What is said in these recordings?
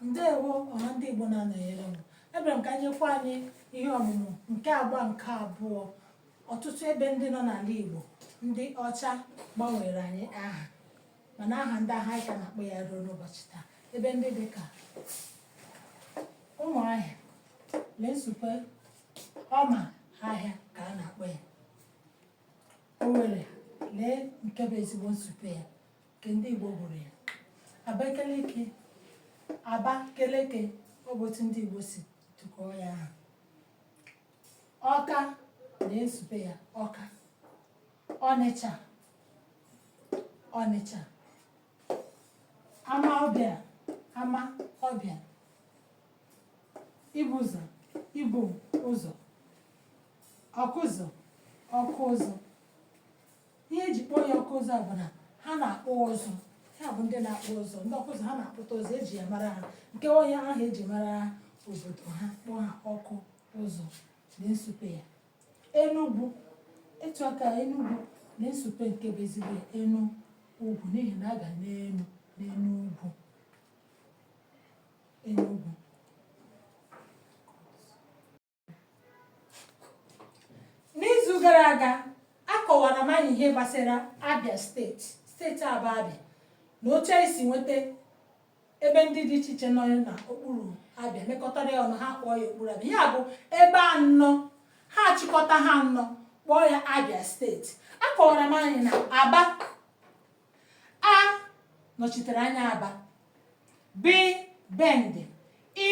ndewo ọha ndị Igbo na-anọnyere m ebere m ka nyekwa anyị ihe ọmụmụ nke agba nke abụọ ọtụtụ ebe ndị nọ n'ala Igbo ndị ọcha gbanwere anyị aha mana aha ndị ahụ anyị ka na-akpọ ya ruo n'ụbọchị taa ebe ndị dị ka Ụmụahịa lee nsupe Ọma ahịa ka a na-akpọ ya Owerri lee nke bụ ezigbo nsupe ya nke ndị Igbo bụrụ ya Abakeleke Abakeleke ọ bụ otu ndị Igbo si tụkọọ ya aha Ọka lee nsupe ya Ọka Ọnịcha Ọnịcha Amaọbịa Ama ọbịa Ibuzọ Ibu ụzọ Ọkụzụ Ọkụ ụzụ ihe eji kpọọ ya Ọkụ ụzụ bụ na ha na-akpụ ụzụ ha bụ ndị na-akpụ ụzụ ndị ọkụ ụzụ ha na-akpụta ụzụ eji ya mara ha nke ọ ihe ahụ eji mara obodo ha kpọọ ha ọkụ ụzụ lee nsupe ya Enugwu etu aka Enugwu lee nsupe nke bụ ezigbo ya enu ugwu n'ihi na a ga n'enu n'enu ugwu Enugwu n'izu gara aga akọwara m anyị ihe gbasara Abia steeti steeti a bụ Abia na otu e si nweta ebe ndị dị iche iche nọ na okpuru Abia mekọtara ya ọnụ ha kpọọ ya okpuru Abia ya bụ ebe anọ ha achịkọta ha anọ kpọọ ya Abia steeti akọwara m anyị na Aba A nọchitere anya Aba. B Bende. I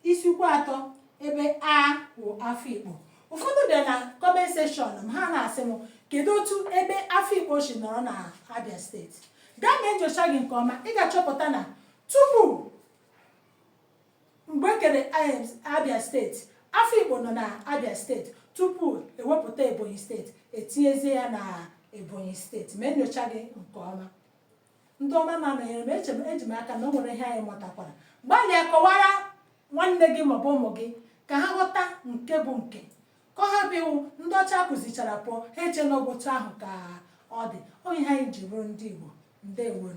Isuikwuatọ ebe A wụ Afikpo. Ụfọdụ bịa na comment section m ha na-asị m kedu otu ebe Afikpo si nọrọ na Abia steeti. Gaa mee nyocha gị nke ọma ị ga-achọpụta na tupu Mgbe e kere Abia steeti, Afikpo nọ na Abia steeti tupu ewepụta Ebonyi steeti etinyezie ya na Ebonyi steeti mee nyocha gị nke ọma ndị ọma na-anọnyere m eji m aka na o nwere ihe anyị mụtakwara gbalịa kọwara nwanne gị maọbụ ụmụ gị ka ha ghọta nke bụ nke ka ọ ghara ịbụ ndị ọcha kụzichara pụọ ha eche na ọ wụ otu ahụ ka ọ dị ọ ihe anyị ji bụrụ ndị Igbo ndewonu